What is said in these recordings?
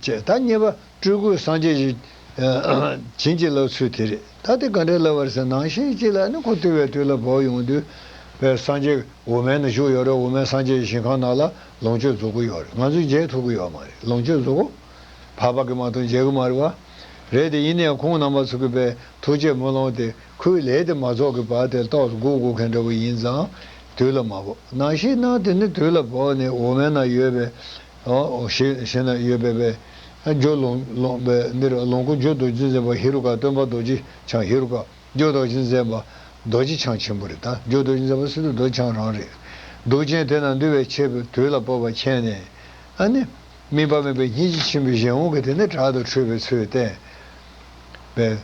ཅེས་ཐ་སྙད་པ་སྤྲུལ་སྐུ་སངས་རྒྱས་ཀྱི། བྱིན་གྱིས་བརླབས་ཚུལ་དེ་རེད་ད་དེ་ག་འདྲའི་བསླབ་བར་ཟེར་ནང་བཞིན་གཅིག་ལ་ནི་ཁོ་དུལ་བའི་དུས་ལ་བོགས་ཡོང་དུས། བའི་སངས་རྒྱས་དབུ་མའི་ནང་བཞུགས་ཡོད་རེད་དབུ་མའི་སངས་རྒྱས་ཀྱི་ཞིང་ཁང་ནང་ལ་ལོངས་སྤྱོད་རྫོགས་གི་ཡོད་རེད་ང་ཚོས་མཇལ་ཐུབ་གི་ཡོད་མ་རེད་ལོངས་སྤྱོད་རྫོགས། བར་བར་གི་མ་གཏོགས་མཇལ་གི་མ་རེད་བ། རེད་དེ་ཡིན་ན་ཡང་ཁོང་རྣམ་པ་ཚོ་གི་བའི་ཐུགས་རྗེ་མུ་ལོངས་དེ་ཁོའི་ལས་དེ་མ་རྫོགས་གི་བར་དེར་ཏོག་དགུ་དགུ་མཁན་འདྲ་བོ་ཡིན་ཙང་དུས་ལ་མ་བོགས་ནང་བཞིན་ནང་དེ་ནི་དུས་ལ་བོགས་ནས་དབུ་མའི་ནང་ཡོད་པའི་ཞེས་ན་ཡོད་པས་པས་ཨ་ཇོ་ལོངས་པས་འདིར་ལོངས་སྐུ་འབྱོན་རྡོ་རྗེ་མཛད་པ་ཧེ་རུ་ཀ་སྟོན་པ་རྡོ་རྗེ་འཆང་ཧེ་རུ་ཀ་འཇོ་རྡོ་རྗེ་མཛད་པ་རྡོ་རྗེ་འཆང་ཆེན་པོ་རེད་ད་འཇོ་རྡོ་རྗེ་མཛད་པ་སི་ཏུ་རྡོ་རྗེ་འཆང་རང་རེད། གདུག་ཅན་དེ་རྣམས་འདུལ་བའི་ཆེད་དུ་དུས་ལ་སྤོབས་པ་མཁྱེན་ནས། ཨ་ནི། སྨིན་པ་མེད་པའི་སྙིང་རྗེ་ཆེན་པོས་གཞན་དབང་གིས་དེ་ནས་དྲག་ཏུ་ཁྲོས་པའི་ཚུལ་བསྟན། པས།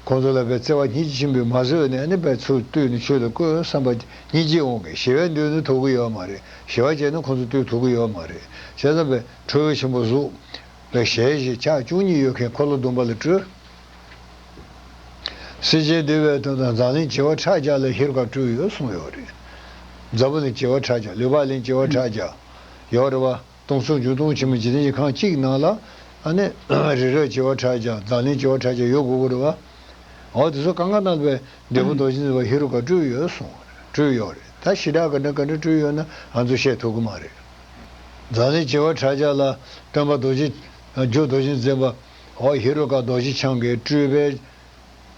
ཁོང་ཚོ་ལ་བའི་བརྩེ་བ་སྙིང་རྗེ་ཆེན་པོས་མ་བཟོད་ནས་ནི་བའི་ཚུར་བཏུད་ནས་ཆོས་ལ་བསྐོས་བསམ་པ་སྙིང་རྗེས་འོང་གི་ཞི་བའི་འདོད་ནུས་ཐོབ་གི་ཡོད་མ་རེད་ཞི་བ་བྱས་ན་ཁོང་ཚོ་བཏུད་ཐུབ་གི་ཡོད་མ་རེད་བྱས་ཙང་བའི་ཁྲོ་བོའི་ཆེན་པོ་གཟུགས་ལ་ཞལ་བཞི་ཕྱག་བཅུ་གཉིས་ཡོད་མཁན་འཁོར་ལོ་སྡོམ་པ་ལ་སྤྲུལ། སེར་ཆེན་འདུལ་བའི་དོན་དང་འཛམ་གླིང་བྱེ་བ་ཕྲག་བརྒྱ་ལ་ཧེ་རུ་ཀ་སྤྲུལ་ཡོད་གསུངས་ཡོད་རེད། འཛམ་བུ་གླིང་བྱེ་བ་ཕྲག་བརྒྱ་ལུས་པ་གླིང་བྱེ་བ་ཕྲག་བརྒྱ་ཡོད་རེད་བ། སྟོང་ཚོ་བཅུ་སྟོང་ཆེན་མོ་འཇིག་རྟེན་གྱི་ཁང་གཅིག་ནང་ལ། ཨ་ནེ། རི་རབ་བྱེ་བ་ཕྲག་བརྒྱ་ཛཱ་ལིང་བྱེ་བ་ཕྲག་བརྒྱ་ཡོད་དགོས་གོ་རེད། འོ་དེ་ཚོ་གང་ག་ན་བའི་འདས་པོ་རྡོ་རྗེ་འཛིན་པ་ཧེ་རུ་ཀ་སྤྲུལ་ཡོད་གསུངས། སྤྲུལ་ཡོད་རེད་ད་ཞི་དྲག་ག་འདྲ་ག་འདྲ་སྤྲུལ་ཡོད་ན་ང་ཚོ་བཤད་ཐུབ་ཀི་མ་རེད། ཛཱ་ལིང་བྱེ་བ་ཕྲག་བརྒྱ་ལ་སྟོན་པ་རྡོ་རྗེ། རྒྱུ་རྡོ་རྗེ་འཛིན་པ། ཧོ་ཧེ་རུ་ཀ་རྡོ་རྗེ་འཆང་གིས་སྤྲུལ་པའི།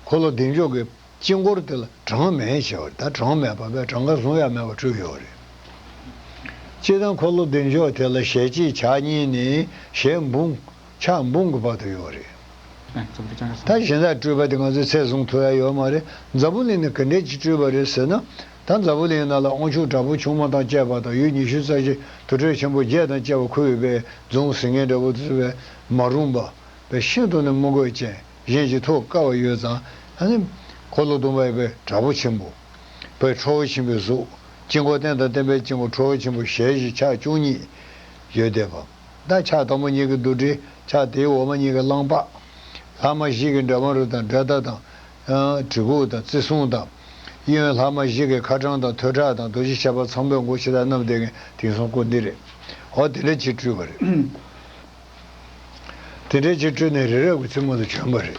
འཁོར་ལོ་བདེ་མཆོག་གི། དཀྱིལ་འཁོར་དེ་ལ་གྲངས་མེད་བྱེད་པར་ད་གྲངས་མེད་པ་པའི་གྲངས་ཀ་གཟུང་ཡ་མེད་པ་དྲུག་ཡོད་རེད། སྤྱི་དང་འཁོར་ལོ་བདེ་མཆོག་དེ་ལ་ཞལ་གཅིག་ཕྱག་གཉིས་ནི་ཞལ་འབུམ། ཕྱག་འབུམ་གྱི་བར་དུ་ཡོད་རེད། ད་གཞན་དག་སྤྲུལ་པ་དེ་ང་ཚོའི་ཚད་བཟུང་ཐུབ་ཡ་ཡོད་མ་རེད་འཛམ་བུ་གླིང་ནས་ག་འདྲས་ཀྱི་སྤྲུལ་པ་རེད་ཟེར་ན། ད་འཛམ་བུ་གླིང་ནང་ལ་དབང་ཕྱུག་དྲག་པོ་ཆུང་མ་དང་བཅས་པ་དང་ཡུལ་ཉི་ཤུ་རྩ་བཞི་དུར་ཁྲོད་ཆེན་པོ་བརྒྱད་དང་བཅས་པ་ཁུ་བའི་པའི་རྫོང་ཟིང་ངེ་འདྲ་བོ་དུ་བསུ་བའི་མ་རུངས་པ། པའི་ཤིན་ཏུ་ནས་དམུ་རྒོད་ཅན། གཞན་གྱིས་ཐོས་དཀའ་བ་ཡོད་ཙང། འཁོར་ལོ་སྡོམ་པ་ཡིན་པས་དྲག་པོ་ཆེན་པོ། པའི་ཁྲོ་བོ་ཆེན་པོའི་གཟུགས། དཀྱིལ་འཁོར་རྟེན་དང་བརྟེན་པའི་དཀྱིལ་འཁོར་ཁྲོ་བོ་ཆེན་པོ་ཞལ་བཞི་ཕྱག་བཅུ་གཉིས། ཡོས་བཟླས་པ། བདག་ཕྱག་དང་པོ་གཉིས་ཀྱིས་རྡུལ་བྲི། ཕྱག་དེའི་འོག་མ་གཉིས་ཀྱིས་གླང་ལྤགས། ལྷག་མ་བཞི་གིས་འདྲ་བ་རུ་དང་དགྲ་སྟ་དང། གྲི་གུག་དང་རྩི་སྲུང་དང། གཡས་གཡོན་ལྷག་མ་བཞི་གིས་ཁ་གྲངས་དང་ཐོད་ཁྲག་དང་རྡོ་རྗེ་ཆེ་བ་ཚངས་པའི་མགོ་ཕྱེ་ད་རྣམས་བཟླས་ཀྱིན་དེང་སང་བཀོད་འདི་རེད། འོ་དེ་འདྲ་བྱེད་སྤྲུལ་བ་རེད། དེ་འདྲའི་ཕྱིར་སྤྲུལ་ནས་རི་རབ་ཀྱི་རྩེ་མོ་ལ་བྱོན་པ་རེད།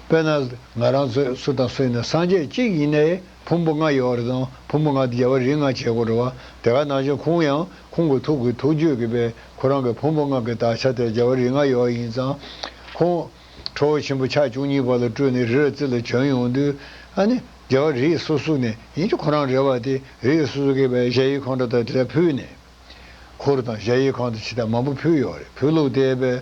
དཔེར་ན། ང་རང་ཚོས་སུ་དང་སུ་ཡིན་ན་སངས་རྒྱས་གཅིག་ཡིན་ནའི་བུ་འབུ་ལྔ་ཡོད་རེད་དང་བུ་འབུ་ལྔ་དེ་རྒྱལ་བ་རིགས་ལྔ་བྱེད་དགོས་རེད་བ་དེ་ག་ནང་བཞིན་ཁོང་ཡང་ཁོང་གི་ཐུགས་ཀྱི་ཐུགས་རྒྱུད་ཀྱི་པས་ཁོ་རང་གི་བུ་འབུ་ལྔ་གི་དག་ཆ་དེར་རྒྱལ་བ་རིགས་ལྔ་ཡོད་ཡིན་ཙང། ཁོང། ཁྲོ་བོ་ཆེན་པོ་ཕྱག་བཅུ་གཉིས་པ་ལ་སྤྲུལ་ནས་རི་རབ་རྩེ་ལ་བྱོན་ཡོང་དུས། ཨ་ནི། རྒྱལ་བ་རིགས་སོ་སོ་ནས་ཡིན་གྱི་ཁོ་རང་རེད་བ་དེ་རིགས་སོ་སོ་གི་པས་གཞལ་ཡས་ཁང་གྲ་དང་དེ་དག་ཕུལ་ནས། འཁོར་དང་གཞའ་ཡི་ཁང་དུ་ཕྱི་དར་མང་པོ་ཕུལ་ཡོད་རེད་བོད་ལུགས་དེ་བས།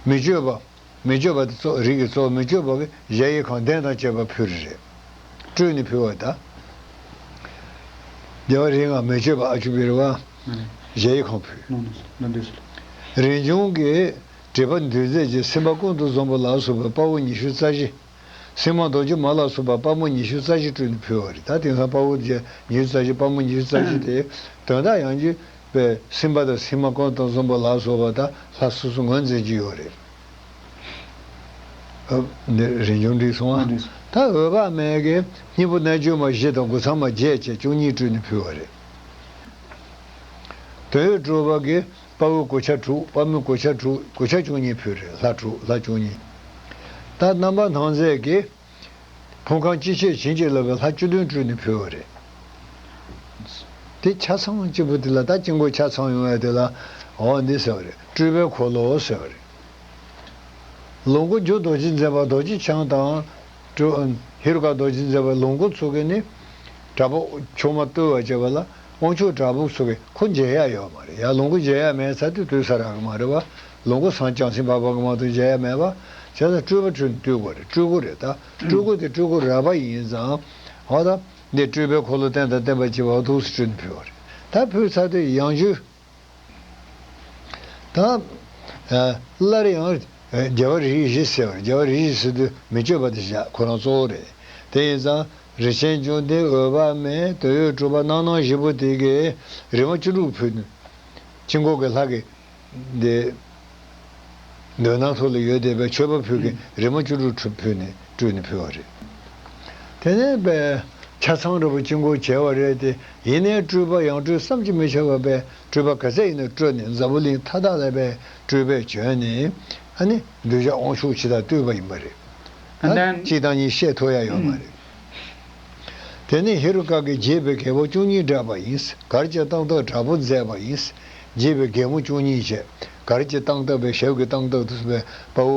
མི་སྤྱོད་པ། མི་སྤྱོད་པ་དེ་རིགས་ཀྱི་གཙོ་བོ་མི་སྤྱོད་པ་གི་གཞའ་ཡི་ཁང་གདན་དང་བཅས་པ་ཕུལ་རེ་རེད། སྤྲུལ་ནས་ཕུལ་བ་ད། རྒྱལ་བ་རིགས་ལྔ་མི་སྤྱོད་པ་ཨ་ཆུ་བིར་བ། གཞའ་ཡི་ཁང་ཕུལ། རིན་འབྱུང་གི། བྲིས་པ་འདུལ་མཛད་ཀྱི་སེམས་དཔའ་ཀུན་ཏུ་བཟང་པོ་ལགས་སུ་བའི་དཔའ་བོ་ཉི་ཤུ་རྩ་བཞི། སེམས་མ་རྡོ་རྗེ་མ་ལ་སོགས་པ་དཔའ་མོ་ཉི་ཤུ་རྩ་བཞི་སྤྲུལ་ནས་ཕུལ་བ་རེད་ད་དེང་སང་དཔའ་བོ་རྗེ་ཉི་ཤུ་རྩ་བཞི་དཔའ་མོ་ཉི་ཤུ་རྩ་བཞི་དེ་དོན་དག་ཡང་རྒྱུད་པའི་སེམས་དཔའ་དང་སེམས་མ་ཀོན་ཏོ་འཛོམས་པ་ལ་སོགས་པ་དག་ལྷ་སོ་སོ་ངོས་འཛིན་གྱི་ཡོད་རེད། འདིར་རིན་འབྱུང་འབྲིང་སོང་ང་ད་འོད་དཔག་མེད་ཀྱི་སྙིང་པོ་རྣལ་འབྱོར་མ་བཞི་དང་དགུ་ཚང་མ་བརྒྱད་བཅས་བཅུ་གཉིས་སྤྲུལ་ནས་ཕུལ་བ་རེད། དོན་ཡོད་གྲུབ་བར་གྱི་དཔའ་བོའི་གོ་ཆ་དྲུག་དཔའ་མོའི་གོ་ཆ་དྲུག་གོ་ཆ་བཅུ་གཉིས་ཕུལ་རེད་ལྷ་དྲུག་ལྷ་བཅུ་གཉིས། ད་རྣམ་པ་སྣང་མཛད་ཀྱིས། ཕོ་ཁང་སྤྱི་བྱེ་བྱིན་གྱིས་བརླབས་པའི་ལྷ་བཅུ་བདུན་སྤྲུལ་ནས་ཕུལ་བ་རེད། དེ་ཆ་ཚང་གཅིག་པུ་དེ་ལ་ད་དཀྱིལ་འཁོར་ཆ་ཚང་ཡོང་བས་དེ་ལ་འོ་འདི་ཟེར་བ་རེད་སྤྲུལ་པའི་འཁོར་ལོ་ཟེར་བ་རེད། ལོངས་སྐུ་རྒྱུ་རྡོ་རྗེ་འཛིན་པ་རྡོ་རྗེ་འཆང་དང། ཧེ་རུ་ཀ་རྡོ་རྗེ་འཛིན་པའི་ལོངས་སྐུ་ཚུགས་མཁན་ནི། དྲག་པོ་མཆོག་མ་བརྟུལ་བ་བཅས་པ་ལ། དབང་ཕྱུག་བྲག་ཕུག་སོགས་ཀྱི་ཁུ་མཇལ་ཡ་ཡོད་མ་རེད་ཡ་ལོངས་སྐུ་མཇལ་ཡ་མེད་ཚ་དུས་དུས་ས་ར་གི་མ་རེད་བ་ལོངས་སྐུ་སང་བྱང་སེམས་དཔའ་བ་གི་མ་དུ་མཇལ་ཡ་མེད་བ་བྱས་ཙང་སྤྲུལ་བ་འཁྲུལ་འདུས་སྒོ་རེད་སྤྲུལ་སྐུ་རེད་ད་སྤྲུལ་སྐུ་དེ་སྤྲུལ་སྐུ་རལ་པ་ཡིན་ཙང་བ་ད་འདི་སྤྲུལ་པའི་འཁོར་ལོ་བསྟན་དང་བསྟན་པ་བྱེད་པ་བ་ཐུགས་སུ་སྤྲུལ་ནས་ཕུལ་བ་རེད་ད་ཕུལ་ཚར་དུས་ཡང་བཅུ། དང། སླར་ཡང། རྒྱལ་བ་རིགས་བཞི་ཟེར་བར་རྒྱལ་བ་རིགས་བཞི་ཟེར་དུས་མི་སྤྱོད་པ་དེ་བཞག་ཁོ་རང་གཙོ་བོ་རེད། དེ་ཡིན་ཙང་རི་ཆེན་བཅོམ་ལྡན་འོད་དཔག་མེད་དོན་ཡོད་གྲུབ་པ་སྣང་སྣང་བཞི་པོ་དེ་གའི་རིག་མ་བཅུ་དྲུག་ཕུལ། དཀྱིལ་འཁོར་གྱི་ལྷ། དེ། འདོད་སྣང་སོགས་ལ་ཡོད་བསྡད་པའི་མཆོད་པ་ཕུལ་གྱིན་རིལ་མ་བཅུ་དྲུག་ཕུལ་ནས་བཀྲུས་ནས་ཕུལ་བ་རེད། དེ་ནས་པས། ཆ་ཚང་ར་བུ་ཅི་འགོར་བྱས་བ་རེད་དེ་ཡིན་ནའི་བཀྲུས་པ་ཡང་བཀྲུས་བསམ་གྱི་མི་ཆེ་བ་པས་བཀྲུས་པ་ག་ཚད་ཡིན་ན་བཀྲུས་ནས་འཛམ་བུ་གླིང་མཐའ་དག་ལ་པས་བཀྲུས་པས་བྱོན་ནས་ཨ་ནི་གདུལ་བྱ་དབང་ཕྱུག་ཇི་ལྟར་བཏུལ་བ་ཡིན་པ་རེད། ད་གཅིག་དང་གཉིས་བཤད་ཐུབ་ཡ་ཡོད་མ་རེད། དེ་ནས་ཧེ་རུ་ཀ་གིས་རྒྱས་པའི་རྒྱལ་པོ་བཅུ་གཉིས་བསྒྲལ་བ་ཡིན། གར་གྱི་སྟངས་སྟབས་དྲག་པོ་མཛད་པ་ཡིན། རྒྱས་པའི་རྒྱལ་མོ་བཅུ་གཉིས་བྱས། གར་གྱི་སྟངས་སྟབས་པའི་ཞབས་ཀྱི་སྟངས་སྟབས་དུ་བའི་དཔའ་བོ།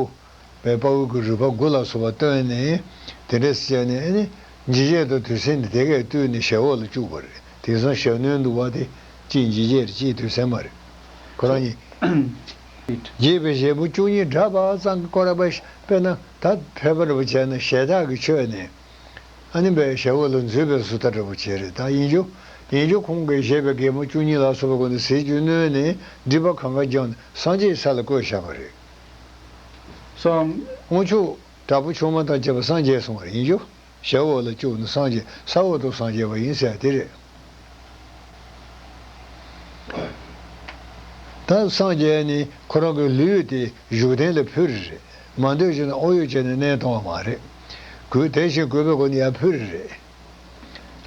བའི་དཔའ་བོ་གི་རུས་པ་དགུ་ལ་སོགས་པ་བཏོན་ནས། དེ་འདྲས་སུ་བྱས་ནས། འཇིགས་བྱེད་དུ་དུས་སེམས་ནི་དེ་ཀས་བཏུལ་ནས་ཞབས་འོག་ལ་བཅུག་པ་རེད། དེང་སང་ཞབས་སྣོན་དུ་བ་དེ། ཅིས་འཇིགས་བྱེད་རེད་ཅིས་དུས་སེམས་མ་རེད། ཁོ་རང་ཉིད། ཨིཏ། རྒྱས་པའི་བཞེད་པོ་བཅུ་གཉིས་སྒྲ་དཔག་གཙང་གི་ཀོ་ར་པཱི་ཤཱི་པས་ན་ད་བྷེ་བ་འདྲ་པོ་བྱས་ན་ཞེ་དྲག་གིས་ཆོད་ནས། ཨ་ནི་བའི་ཞལ་བོ་ལ་འཛུད་པའི་སུ་ཐ་འདྲ་པོ་བྱེད་རེ་ད་ཡིན་རྒྱུ། ཡིན་རྒྱུ་ཁོང་གིས་བཞེད་པའི་གད་མོ་བཅུ་གཉིས་ལ་སོགས་པ་ཀུན་ཏུ་ཟས་བཅུད་བསྣོལ་ནས་སྒྲིབ་པ་གང་གཱ་ལྗོངས་ནས་སངས་རྒྱས་ས་ལ་བཀོད་བཞག་པ་རེད། སངས། དངུལ་ཆུ་དྲག་པོ་ཆུང་མ་དང་བཅས་པ་སངས་རྒྱས་སོང་བར་ཡིན་རྒྱུ། ཞབས་འོག་ལ་བཅུག་ནས་སངས་རྒྱས་ས་འོག་ཏུ་སངས་རྒྱས་པ་ཡིན་ཟེར་དེ་རེད། ད་སངས་རྒྱས་ནི་ཁོ་རང་གི་ལུས་དེ་བཞུགས་གདན་ལ་ཕུལ་རེད། མ་འདོད་བཞིན་དུ་ཨོ་ཡོད་བྱས་ནས་གནས་སྟོང་བ་མ་རེད། གུས་དེ་བཞིན་གུས་པའི་སྒོ་ནས་ཡར་ཕུལ་རེད།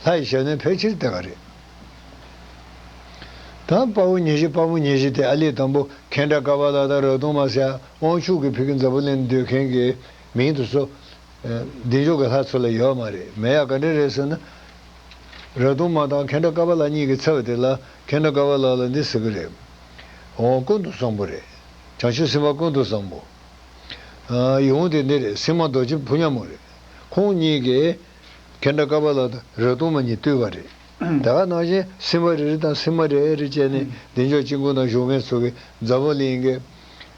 ལྷ་ཡི་ཞབས་ནས་ཕལ་ཆེར་དེ་ག་རེད། ད་དཔའ་བོ་ཉེ་བཞི་དཔའ་མོ་ཉེ་བཞི་དེ་ཨ་ལེ་དང་པོ་ཁེན་ཏྲ་ཀ་བ་ལ་ད་རོ་དུང་མ་སེ་ཨོང་ཕྱུག་གི་ཕུག་གི་འཛམ་བུ་གླིང་འདོད་མཁན་གྱི་མིང་དུ་སོ། བདེ་མཆོག་གི་ལྷ་ཚོད་ལ་ཡོད་མ་རེད་མེད་ཡ་ག་འདྲ་རེད་ཟེར་ན། ར་དུང་མ་དང་ཁེ་འདྲ་ཀ་པ་ལགས་གཉིས་ཀྱི་ཚེ་བ་དེ་ལ་ཁེ་འདྲ་ཀ་བ་ལགས་ལ་འདི་ཟེར་གི་རེད། འོང་ཀུན་ཏུ་བཟང་པོ་རེད། བྱང་ཆུབ་སེམས་དཔའ་ཀུན་ཏུ་བཟང་པོ། ཡིད་འོང་དེ་འདི་རེད་སེམས་མ་རྡོ་རྗེ་ཕུ་ཉམས་མོ་རེད། ཁོང་གཉིས་ཀྱིས། ཁེ་འདྲ་ཀ་བ་ལགས་དང་ར་དུང་མ་གཉིས་བཏུལ་བ་རེད། ད་ག་ནང་བཞིན་སེམས་དཔའ་རེ་རེ་དང་སེམས་མ་རེ་རེ་བཅས་ནས་བདེ་མཆོག་དཔྱིད་ཀུན་དང་བཞུགས་མེད་ཚོགས་ཀྱི་མཛའ་བོ་གླིང།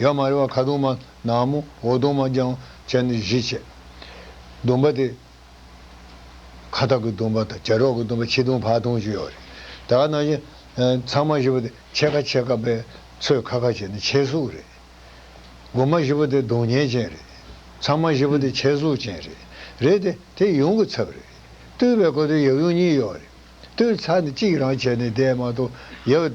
ཡང་མ་རེ་བ་ཁ་དུང་མ་ནག་མོ་འོ་དོང་མ་རྒྱང་བྱས་ནི་བཞི་བྱས། སྡོམ་པ་དེ། ཁ་ཐག་གི་སྡོམ་པ་དང་བྱ་རོག་གི་སྡོམ་པ་ཕྱི་དོང་བར་དོང་བཅུ་ཡོད་རེད། དེ་ག་ནང་བཞིན། ཚང་མ་བཞི་པོ་དེ་ཕྱེད་ཀ་ཕྱེད་ཀ་པས་ཚོས་ཁ་ཁ་བྱས་ནི་ཕྱེད་གཟུགས་རེད། སྒོ་མ་བཞི་པོ་དེ་སྡོང་གཉེན་ཅན་རེད། ཚང་མ་བཞི་པོ་དེ་ཕྱེད་གཟུགས་ཅན་རེད། རེད་དེ། དེ་ཡུངས་ཀྱི་ཚབ་རེད། ལྟོས་པའི་གོ་དོན་ཡབ་ཡུངས་གཉིས་ཡོད་རེད། ལྟོས་ཚ་ནི་གཅིག་རང་བྱས་ནི་དེས་མ་གཏོགས་ཡབ།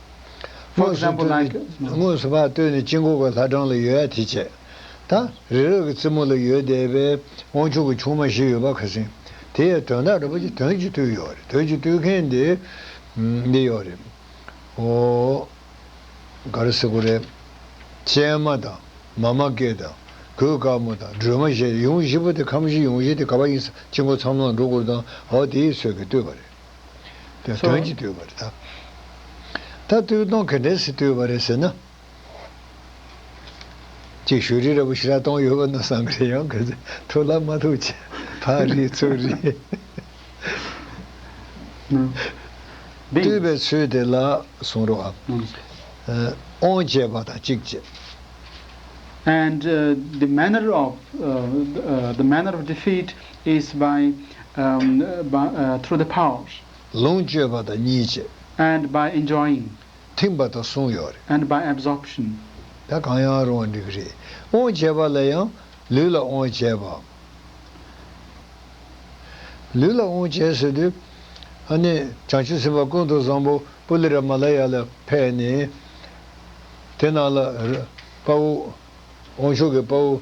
དངོས་སུ་བཏོན་ནས་དངོས་སུ་བག་བཏོན་ནས་དཀྱིལ་འཁོར་གྱི་ལྷ་གྲངས་ལ་ཡོད་ཡ་དེ་བྱས། ད་རི་རབ་ཀྱི་རྩེ་མོ་ལ་ཡོད་བསྡད་པའི་དབང་ཕྱུག་གི་ཆུང་མ་བཞི་ཡོད་པ་ག་ཟིན། དེ་ཡའི་དོན་དག་རིན་པོ་ཆེ་དོན་གྱིས་བཏུལ་ཡོད་རེད་དོན་གྱིས་བཏུལ་མཁན་དེ་འདི་ཡོད་རེད། ཨོ། ག་རེ་སེ་གོ་རེ། སྤྱན་མ་དང་མ་མ་ཀའི་དང་གོས་དཀར་མོ་དང་སྒྲོལ་མ་བཞི་ཡུམ་བཞི་པོ་དེ་ཁམས་བཞི་ཡུམ་བཞི་དེ་ག་བ་ཡིན་ས་དཀྱིལ་འཁོར་ཚང་མ་འགྲོ་སྐོར་དང་ཨོ་དེའི་ཚོད་ཀྱིས་བཏུལ་བ་རེད། དོན་གྱིས་བསྟོད་པར་བལྟ། ད་བསྟོད་གཏོང་གལ་འགྲན་སྲིད་བསྟོད་པ་རེད་ཟེར་ན། གཅིག་ཤོས་རི་རབ་ཕྱི་ར་སྟོང་ཡོད་པ་ན་བསམ་གི་རེད་ཡང་གི་ཚེ་ཐུག་ལ་མ་ཐུག་ཆད་ཕག་རིའི་ཚུར་རི། བསྟོད་པའི་ཚུལ་དེ་ལ་གསུང་རོགས་ཨ། ཨོང་བཅས་པ་དང་གཅིག་བཅས། and the manner of the manner of defeat is by through the power ལོངས་སྤྱོད་པ་དང་གཉིས་བྱེད། and by enjoying ཐིམ་པ་དང་གསུམ་ཡོད་རེད། and by absorption། ད་གང་ཡང་རུང་བ་འགྲིག་གི་རེད། དབང་བྱེད་པ་ལ་ཡང་ལུས་ལ་དབང་བྱེད་པ། ལུས་ལ་དབང་བྱེད་ཟེར་དུས་ཨ་ནི་བྱང་ཆུབ་སེམས་དཔའ་ཀུན་ཏུ་བཟང་པོ་པུ་ལི་ར་མ་ལ་ཡ་ལ་ཕེ་ནི་དེ་ནང་ལ་དཔའ་བོ་དབང་ཕྱུག་གི་དཔའ་བོ་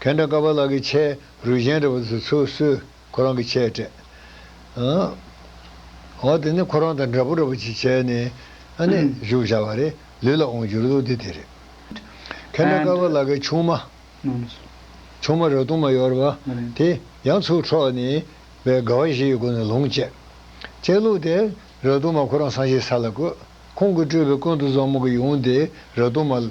ཁེ་འདྲ་ཀ་བ་ལགས་ཀྱི་ཆས་རུས་གཞན་རེ་བ་ཚོས་ཚུར་གསོས་ཁོ་རང་གི་ཆས་སྤྲད། འོ་དེ་ནས་ཁོ་རང་དང་འདྲ་པོ་འདྲ་པོ་ཅིག་བྱས་ནས་བཞུགས་བཞག་བ་རེད་ལུས་ལ་འོང་རྒྱུར་ལུགས་འདི་དེ་རེད། ཁེ་འདྲ་ཀ་བ་ལགས་ཀྱི་ཆུང་མ། ཆུང་མ་རབ་གཏུམ་མ་ཡོར་བ་དེ་ཡང་ཚུར་འཕྲོག་ནས་བའི་དགའ་བ་བཞི་ཡི་སྒོ་ནས་ལོངས་སྤྱད། སྤྱད་ལུགས་དེ་རབ་གཏུམ་མ་ཁོ་རང་སངས་རྒྱས་ས་ལ་བཀོད། ཁོང་གི་སྤྲུལ་པའི་ཀུན་ཏུ་བཟང་མོ་གི་ཡུམ་དེ་རབ་གཏུམ་མ།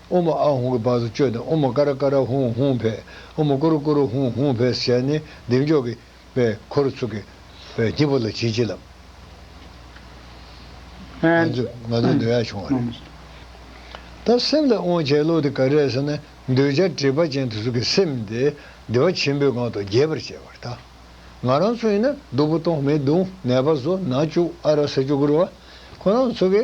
ཨུ་མ་ཨ་ཧུང་གི་བར་དུ་བཅོས་ཏེ་ཨུ་མ་ཀ་ར་ཀ་ར་ཧུང་ཧུང་བྷས་ཨུ་མ་ཀུ་རུ་ཀུ་རུ་ཧུང་ཧུང་བྷས་ཟེར་ནས་གདེང་འཇོག་གི་པའི་འཁོར་ལོ་ཚུགས། སྐྱིད་པོ་ལ་བྱིལ་བྱིལ་ལབ། ང་ཚོས་ང་ཚོའི་འདོད་ཡག་བྱུང་བ་རེད། ད་སེམས་ལ་དབང་བྱས་ལོག་དེ་ག་རེད་ཟེར་ན་འདོད་ཆགས་དྲེགས་པ་ཅན་དེ་ཚོ་གི་སེམས་དེ་བདེ་བ་ཆེན་པོའི་སྒང་དུ་རྒྱས་པར་བྱས་པར་ད་ང་རང་ཚོ་ཡིན་ན་སྡུག་པོ་སྟོང་མི་སྡུག་ནད་པ་བཟོ་ན་བཅུག་ཨ་ར་ས་བཅུག་གུར་བ་ཁོ་རང་ཚོ་གི་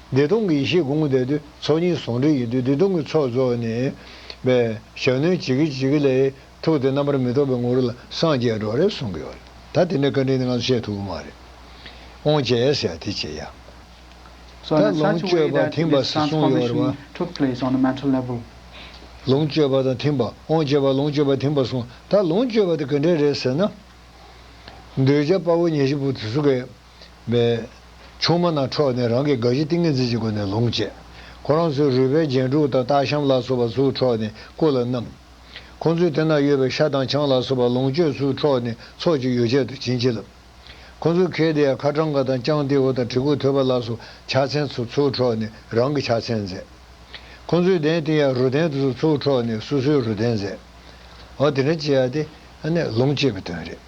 བདེ་སྟོང་གི་ཡེ་ཤེས་དགོངས་བརྡའི་དུས་ཚོགས་གཉིས་ཟུང་འབྲེལ་ཡིན་དུས་བདེ་སྟོང་གི་ཚོགས་རྫོགས་ནས། པའི་ཞབས་བསྣོལ་ཇི་དགེ་ཇི་དགེ་ལས། ཐུགས་དེ་རྣམ་པར་མི་རྟོག་པའི་ངོ་བོ་ལ་སངས་རྒྱས་འགྲོ་རེད་གསུང་གི་ཡོད་རེད་ད། དེ་འདྲའི་བཀའ་དྲིན་ནི་ང་ཚོ་བཤད་ཐུབ་ཀྱི་མ་རེད། ཨོང་བྱས་ཡ་ཟེར་ཡ་དེ་བྱས་ཡ། ད་ལོངས་སྤྱོད་པ་ཐིམ་པ་ཟེར་གསུང་ཡོད་རེད་བ། ལོངས་སྤྱོད་པ་དང་ཐིམ་པ་ཨོང་བྱས་པ་ལོངས་སྤྱོད་པ་ཐིམ་པ་གསུང་ད་ལོངས་སྤྱོད་པ་དེ་ག་འདྲས་རེད་ཟེར་ན། འདོད་ཆགས་དཔའ་བོ་ཉེར་བཞི་པོ་དེ་ཚོ་གས། པའི། ཆུང་མ་ནག་འཕྲོག་ནས་རང་གི་དགའ་བཞི་ཏིང་ངེ་འཛིན་གྱི་སྒོ་ནས་ལོངས་སྤྱད། ཁོ་རང་ཚོའི་རུས་པའི་རྒྱན་དྲུག་དང་སྟག་ཤམ་ལ་སོགས་པ་ཚུར་འཕྲོག་ནས་སྐུ་ལ་བསྣམས། ཁོ་ཚོའི་དེ་ན་ཡོད་པའི་ཤ་དང་ཆང་ལ་སོགས་པ་ལོངས་སྤྱོད་ཚུར་འཕྲོག་ནས་ཚོགས་ཀྱི་ཡོ་བྱད་དུ་བྱིན་གྱིས་བརླབས། ཁོ་ཚོའི་ཁལ་དེ་ཡང་ཁ་གྲང་ག་དང་སྤྱང་ཏེའུ་དང་གྲི་གུག་ཐོད་པ་ལ་སོགས་ཕྱག་མཚན་ཚོ་ཚུར་འཕྲོག་ནས་རང་གི་ཕྱག་མཚན་མཛད། ཁོ་ཚོའི་གདན་དེ་ཡང་རུ་གདན་དུ་སོགས་ཚུར་འཕྲོག་ནས་སོ་སོའི་རུ་གདན་མཛད། འོ་དེ་འདྲ་བྱས་ཏེ། ལོངས་སྤྱད་པའི་དོན་རེད།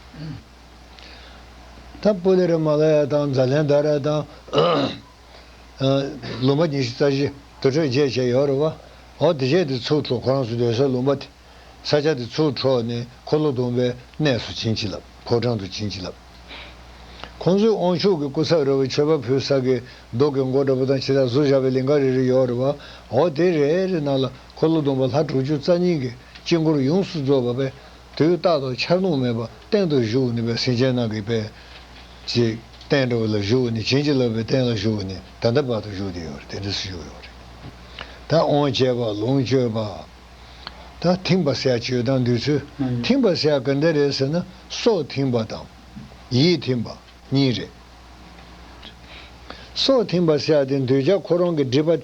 ད་པོ་ལེ་རི་མ་ལ་ཡ་དང་ཛཱ་ལན་དཱ་ར་དང། ལུང་པ་ཉི་ཤུ་རྩ་བཞི་དུར་ཁྲོད་བརྒྱད་བཅས་ཡོད་རེད་བ། འོ་དེ་བཅས་དེ་ཚུར་འཕྲོ་ཁོ་རང་ཚོ་སྡོད་སའི་ལུང་པ་དེ། ས་ཆ་དེ་ཚུར་འཕྲོ་ནས་འཁོར་ལོ་སྡོམ་པའི་གནས་སུ་བྱིན་གྱིས་བརླབས་ཕོ་བྲང་དུ་བྱིན་གྱིས་བརླབས། ཁོང་ཚོས་དབང་ཕྱུག་གི་སྐུ་ཚབ་རེ་བའི་མཆོད་པ་ཕུལ་ས་གི་རྡོ་གི་མགོ་འདྲ་པོ་དང་ཕྱི་དར་ཟུར་བཞག་པའི་ལིང་ག་རེ་རེ་ཡོད་རེད་བ། འོ་དེ་རེ་རེ་ནང་ལ་འཁོར་ལོ་སྡོམ་པ་ལྷ་དྲུག་ཅུ་རྩ་གཉིས་ཀྱི་དཀྱིལ་འཁོར་ཡོངས་སུ་རྫོགས་པ་པས། དུས་རྟག་ཏུ་འཆར་ལུང་མེད་པར་གཏན་དུ་བཞུགས་ནུས་པའི་སེམས་ཅན་རྣམས་ཀྱི་དཔལ། ཅེས་བསྟན་འགྲོ་བ་ལ་བཞུགས་ནས་བྱིན་གྱིས་རློབ་པའི་རྟེན་ལ་བཞུགས་ནས་ད་ལྟ་བར་དུ་བཞུགས་ཏེ་ཡོད་རེད། ད་འོང་བྱེད་པ་ལོངས་སྤྱོད་པ། ད་ཐིམ་པ་སྲས་སྤྱོད་དང་འདུས་ཚུལ་ཐིམ་པ་སྲས་ག་འདི་རེད་ཟེར་ན་སྲོག་ཐིམ་པ་དང། ཡིད་ཐིམ་པ་གཉིས་རེད། སྲོག་ཐིམ་པ་སྲས་དེ་འདུས་བྱ་ཁོ་རང་གི་སྒྲིབ་པ་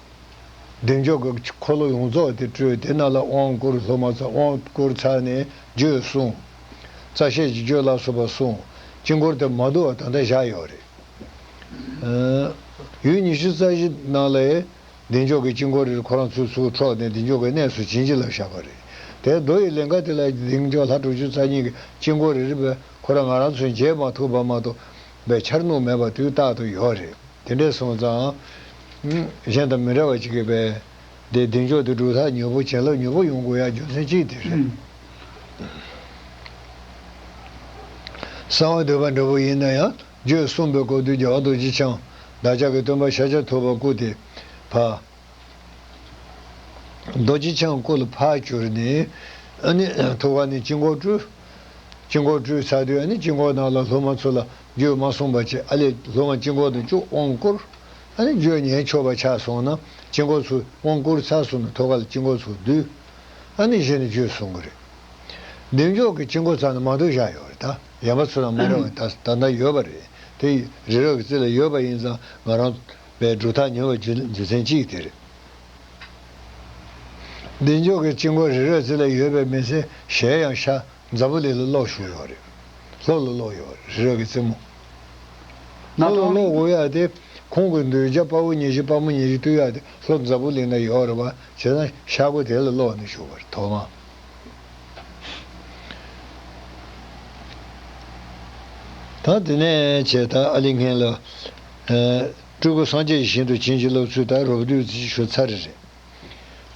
བདེ་མཆོག་གི་འཁོར་ལོ་ཡོངས་རྫོགས་དེ་སྤྲོས་ཏེ་རྣ་ལ་དབང་བསྐུར་སློབ་མ་རྩ་དབང་བསྐུར་ཚར་ནས་བརྗོད་གསུངས། རྩ་བཤད་ཀྱིས་བརྗོད་སླ་སོང་བ་གསུངས། དཀྱིལ་འཁོར་དེ་མ་བསྡུ་བར་ད་ལྟ་བཞག་ཡོད་རེད། ཡུལ་ཉི་ཤུ་རྩ་བཞི་སྣང་ལས། བདེ་མཆོག་གི་དཀྱིལ་འཁོར་རེར་ཁོ་རང་ཚུར་ཚུར་འཕྲོག་ནས་བདེ་མཆོག་གི་གནས་སུ་བྱིན་གྱིས་བརླབས་བཞག་པ་རེད། དེར་རྡོ་ཡི་ལིང་ག་དེ་ལ་བདེ་མཆོག་ལྷ་དྲུག་ཅུ་རྩ་གཉིས་ཀྱི་དཀྱིལ་འཁོར་རེ་རེ་བས་ཁོ་རང་ང་རང་ཚོས་མཇལ་མ་ཐུབ་པ་མ་གཏོགས་པའི་འཆར་སྣང་མེད་པ་དུས་རྟག་ཏུ་ཡོད་རེད། དེ་འདྲས་སོང་ཙང། གཞན་དང་མི་འདྲ་བ་ཅིག་གི་པས། དེ་བདེ་མཆོག་དེ་སྒྲུབ་ཐག་ཉོ་བོ་བྱིན་རླབས་ཉོ་བོ་ཡོང་དགོས་ཡ་རྒྱུ་མཚན་གཅིག་དེ་རེད། གསང་བ་འདོད་པ་འདྲ་བོ་ཡིན་ན་ཡང་རྒྱུད་གསུམ་པའི་སྐོར་དུས་རྒྱལ་བ་རྡོ་རྗེ་འཆང། བདག་ཅག་གི་སྟོན་པ་ཤཱཀྱ་ཐུབ་པ་སྐུ་དེ། བ། རྡོ་རྗེ་འཆང་སྐུ་ལ་ཕར་གྱུར་ནས། ཨ་ནི། ཐུགས་ཀ་ནས་དཀྱིལ་འཁོར་སྤྲུལ། དཀྱིལ་འཁོར་སྤྲུལ་ཚར་དུས་ཨ་ནི་དཀྱིལ་འཁོར་ནང་ལ་སློབ་མ་ཚུར་ལ་བརྗོད་མ་གསུངས་པ་ཅི་ཨ་ལས་ལྷོ་ང་དཀྱིལ་འཁོར་དུ་བཅུག་དབང་བསྐུར། ཨ་ནི་བརྗོད་ཉན་ཆོག་པ་ཆགས་སོང་ན་དཀྱིལ་འཁོར་ཚུར་དབང་བསྐུར་ཚར་གསུངས་ནས་ཐོ་ག་ལ་དཀྱིལ་འཁོར་ཚུར་བསྡུས། ཨ་ནི་གཞི་ནས་བརྗོད་གསུངས་གི་རེད། འདེམས་འཇོག་གི་དཀྱིལ་འཁོར་ཚང་ནས་མང་དུ་བཞག་ཡོད་རེད་ད། ཡན་པ་ཚོ་དང་མ་རེ་བ་ད་ལྟ་ཡོད་པ་རེད་དེ། རི་རབ་ཀྱི་རྩེ་ལ་ཡོད་པ་ཡིན་ཙང་ང་རང་བས་སྒྲུབ་ཐག་ཉེ་བ་རྒྱུ་མཚན་གཅིག་དེ་རེད། འདེམས་འཇོག་གི་དཀྱིལ་འཁོར་རི་རབ་རྩེ་ལ་ཡོད་པའི་མི་ཚེ་གཞལ་ཡང་ཤ་རྫ་བོ་ལི་ལ་གློག་ཞུགས་ཡོད་རེད། ལྷོ་ལ་གློག་ཡོད་རེད་རི་རབ་ཀྱི་རྩེ་མོ། ལྷོ་ལ་གློག་འོ་ཡག་དེ་ཁོང་གི་འདུལ་བྱ་དཔའ་བོ་ཉེ་བཞི་དཔའ་མོ་ཉེ་བཞི་སྟུ་ཡག་དེ་ལྷོ་རྫ་བོ་ལི་ན་ཡོད་རེད་བ་བྱས་ན་ཤག་སྒོ་དེ་ལ་གློག་ནི་ཞུགས་པ་རེད་དོ་དམ། ད་དེ་ནས་བྱས་ད་ཨ་ལི་ངྷེ་ལ། སྤྲུལ་སྐུ་སངས་རྒྱས་ཀྱི་ཞིང་དུ་བྱིན་གྱིས་བརླབས་ཚུལ་ད་རོབ་བདུད་རྩི་ཆུ་ཚ་རེ་རེད།